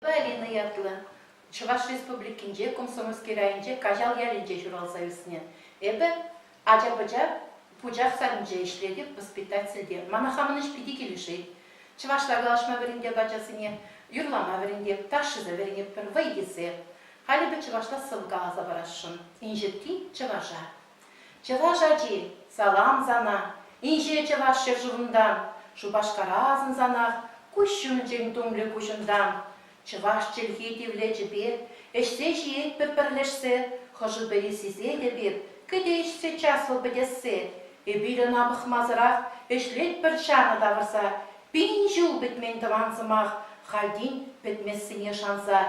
Алина ятлӑ. Чӑваш Республикинче Комсомольски районӗнчи Каҫал ялӗнче ҫуралса ӳснӗ. Эпӗ ача-пӑча пучах садӗнче ӗҫлетӗп, воспитательте. Мана хамӑн ӗҫ питӗ килӗшет. Чӑвашла калаҫма вӗрентеп ачасене, юрлама вӗрентеп, ташшисе вӗренетпӗр, вӑй хисеп. Халӗ эпӗ чӑвашла сӑвӑ каласа парасшӑн. Инҫетри чӑваша Чӑваш ачи, салам сана, инҫе чӑваш ҫӗршывӑнтан, Шупашкара асӑнсанах куҫҫульчӗн тумлӗ куҫӑнтан, чӑваш чӗлхи тивлечӗпе ӗҫсе ҫиетпӗр пӗрлешсе, хӑшӗ-пӗри сисет эпир кӗтеҫҫӗ часлӑ пӗтессе, эпир ӑна пӑхмасӑрах ӗҫлетпӗр ҫанӑ тавӑрса, пин ҫул пӗтмен тӑван сӑмах халь тин пӗтмессине шанса,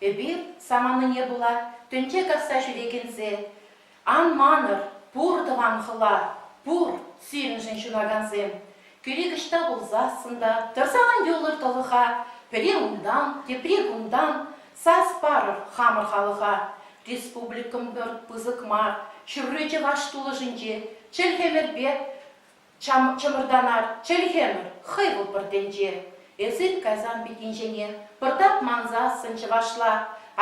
эпир саманине пула тӗнче касса ҫӳрекенсе, Ан манӑр, пур тӑван хӑла, пур, сирӗншӗн ҫунакансем, кӗрек ӑҫта пулсассӑн та, тӑрсах ан юлӑр тӑлӑха, пӗре унтан, тепре кунтан, сас парӑр хамӑр халӑха, республикӑн пӗр пысӑк мар ҫурри чӑваш тулӑшӗнче чӗлхемӗрпе Чӑмӑртанар, чӗлхемӗр, хӑй вӑл пӗртенче. Эсир кайсан пикинҫене пӑртак мансассӑн чӑвашла,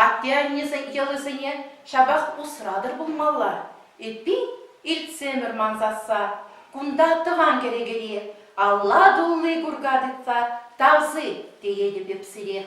атте-аннесен йӑлисене ҫапах усратӑр пулмалла. Эппин, илтсемӗр мансасса. Кунта тӑван кӗрекере алла тулли курка тытса тавси, теетӗп эп сире.